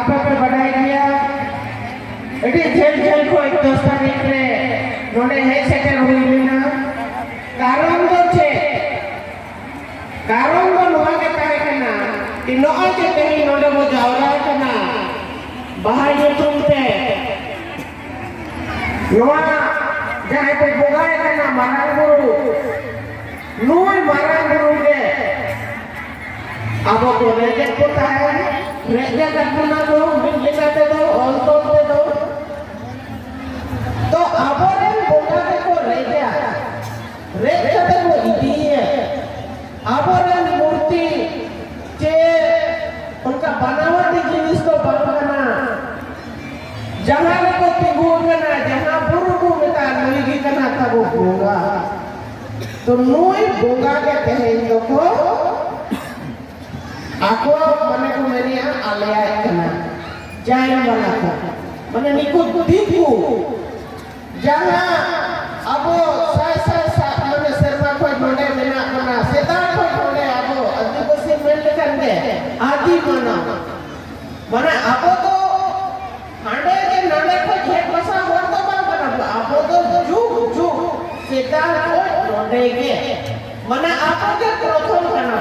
ᱟᱯᱮ ᱯᱮ ᱵᱟᱰᱟᱭ ᱜᱮᱭᱟ ᱟᱹᱰᱤ ᱡᱷᱟᱹᱞ ᱡᱷᱟᱹᱞ ᱠᱷᱚᱱ ᱫᱚᱥ ᱛᱟᱹᱨᱤᱠᱷ ᱨᱮ ᱱᱚᱰᱮ ᱦᱮᱡ ᱥᱮᱴᱮᱨ ᱦᱩᱭ ᱞᱮᱱᱟ ᱠᱟᱨᱚᱱ ᱫᱚ ᱪᱮᱫ ᱠᱟᱨᱚᱱ ᱫᱚ ᱱᱚᱣᱟ ᱜᱮ ᱛᱟᱦᱮᱸ ᱠᱟᱱᱟ ᱠᱤ ᱱᱚᱜᱼᱚᱭ ᱡᱮ ᱛᱮᱦᱮᱧ ᱱᱚᱰᱮ ᱵᱚ ᱡᱟᱣᱨᱟ ᱠᱟᱱᱟ ᱵᱟᱦᱟ ᱧᱩᱛᱩᱢ ᱛᱮ ᱱᱚᱣᱟ ᱡᱟᱦᱟᱸᱭ ᱠᱚ ᱵᱚᱸᱜᱟᱭ ᱠᱟᱱᱟ ᱢᱟᱨᱟᱝ ᱵᱩᱨᱩ ᱱᱩᱭ ᱢᱟᱨᱟᱝ ᱵᱩᱨᱩ ᱜᱮ ᱟᱵᱚ ᱫᱚ ᱨᱮᱸᱜᱮᱡ ᱠᱚ ᱛᱟᱦᱮᱱ ᱨᱮᱸᱜᱮᱡ ᱟᱠᱟᱱᱟ ᱫᱚ ᱢᱤᱫ ᱞᱮᱠᱟ ᱛᱮᱫᱚ ᱚᱞ ᱛᱚᱞ ᱛᱮᱫᱚ ᱛᱚ ᱟᱵᱚᱨᱮᱱ ᱵᱚᱸᱜᱟ ᱜᱮᱠᱚ ᱨᱮᱸᱜᱮᱡ ᱨᱮᱸᱜᱮᱡ ᱠᱟᱛᱮ ᱠᱚ ᱤᱫᱤᱭᱮ ᱟᱵᱚᱨᱮᱱ ᱢᱩᱨᱛᱤ ᱪᱮ ᱚᱱᱠᱟ ᱵᱟᱱᱟᱣᱟᱴᱤ ᱡᱤᱱᱤᱥ ᱫᱚ ᱵᱟᱝ ᱠᱟᱱᱟ ᱡᱟᱦᱟᱸ ᱨᱮᱠᱚ ᱛᱤᱸᱜᱩ ᱠᱟᱱᱟ ᱡᱟᱦᱟᱸ ᱵᱩᱨᱩ ᱠᱚ ᱢᱮᱛᱟᱜᱼᱟ ᱱᱩᱭ ᱜᱮ ᱠᱟᱱᱟ ᱛᱟᱵᱚ ᱵᱚᱸᱜᱟ ᱛᱚ ᱱᱩᱭ ᱵᱚᱸᱜᱟ ᱜᱮ ᱛᱮᱦᱮᱧ ᱫᱚᱠᱚ ᱟᱠᱚᱣᱟᱜ ᱢᱟᱱᱮ ᱠᱚ ᱢᱮᱱᱮᱜᱼᱟ ᱟᱞᱮᱭᱟᱜ ᱠᱟᱱᱟ ᱡᱟᱭ ᱵᱟᱞᱟ ᱠᱚ ᱢᱟᱱᱮ ᱱᱤᱠᱩ ᱫᱤᱠᱩ ᱡᱟᱦᱟᱸ ᱟᱵᱚ ᱥᱟᱭ ᱥᱟᱭ ᱥᱟᱭ ᱢᱟᱱᱮ ᱥᱮᱨᱢᱟ ᱠᱷᱚᱱ ᱱᱚᱰᱮ ᱢᱮᱱᱟᱜ ᱵᱚᱱᱟ ᱥᱮᱫᱟᱭ ᱠᱷᱚᱱ ᱱᱚᱰᱮ ᱟᱵᱚ ᱟᱹᱫᱤᱵᱟᱹᱥᱤ ᱢᱮᱱ ᱞᱮᱠᱷᱟᱱ ᱜᱮ ᱟᱹᱫᱤ ᱢᱟᱱᱟᱣ ᱢᱟᱱᱮ ᱟᱵᱚ ᱫᱚ ᱦᱟᱸᱰᱮ ᱜᱮ ᱱᱟᱰᱮ ᱠᱷᱚᱡ ᱦᱮᱡ ᱵᱟᱥᱟ ᱦᱚᱲ ᱫᱚ ᱵᱟᱝ ᱠᱟᱱᱟ ᱵᱚᱱ ᱟᱵᱚ ᱫᱚ ᱡᱩᱜᱽ ᱡᱩᱜᱽ ᱥᱮᱫᱟᱭ ᱠᱷᱚᱡ ᱱᱚᱰᱮ ᱜᱮ ᱢᱟᱱᱮ ᱟᱵᱚ ᱜᱮ ᱯᱨᱚᱛᱷᱚᱢ ᱠᱟᱱᱟ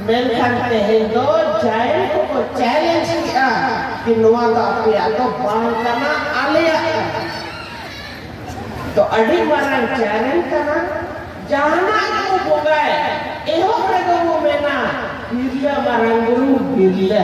ᱢᱮᱱᱠᱷᱟᱱ ᱛᱮᱦᱮᱧ ᱫᱚ ᱡᱟᱭᱮᱱ ᱠᱚᱠᱚ ᱪᱮᱞᱮᱧᱡᱽ ᱠᱮᱜᱼᱟ ᱠᱤ ᱱᱚᱣᱟ ᱫᱚ ᱟᱯᱮᱭᱟᱜ ᱫᱚ ᱵᱟᱝ ᱠᱟᱱᱟ ᱟᱞᱮᱭᱟᱜ ᱠᱟᱱᱟ ᱛᱚ ᱟᱹᱰᱤ ᱢᱟᱨᱟᱝ ᱪᱮᱞᱮᱧᱡᱽ ᱠᱟᱱᱟ ᱡᱟᱦᱟᱱᱟᱜ ᱠᱚ ᱵᱚᱸᱜᱟᱭ ᱮᱦᱚᱵ ᱨᱮᱫᱚ ᱠᱚ ᱢᱮᱱᱟ ᱵᱤᱨᱞᱟᱹ ᱢᱟᱨᱟᱝ ᱵᱩᱨᱩ ᱵᱤᱨᱞᱟᱹ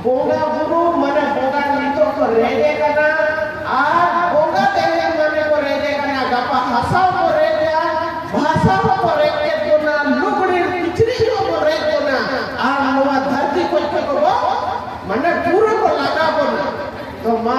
ᱵᱚᱸᱜᱟ ᱵᱩᱨᱩ ᱢᱟᱱᱮ ᱵᱚᱸᱜᱟ ᱱᱤᱛᱚᱜ ᱠᱚ ᱨᱮᱡᱮ ᱠᱟᱱᱟ ᱟᱨ ᱵᱚᱸᱜᱟ ᱛᱮᱦᱮᱧ ᱢᱟᱱᱮ ᱠᱚ ᱨᱮᱡᱮ ᱠᱟᱱᱟ ᱜᱟᱯᱟ ᱦᱟᱥᱟ ᱠᱚ ᱨᱮᱡᱟ ᱵᱷᱟᱥᱟ ᱠᱚ ᱨᱮᱡ ᱠᱮᱫ ᱵᱚᱱᱟ ᱞᱩᱜᱽᱲᱤ ᱠᱤᱪᱨᱤᱡ ᱠᱚ ᱨᱮᱡ ᱵᱚᱱᱟ ᱟᱨ ᱱᱚᱣᱟ ᱫᱷᱟᱹᱨᱛᱤ ᱠᱚ ᱠᱚ ᱵᱚ ᱢᱟᱱᱮ ᱯᱩᱨᱟᱹ ᱠᱚ ᱞᱟᱜᱟ ᱵᱚᱱᱟ ᱛᱚ ᱢᱟ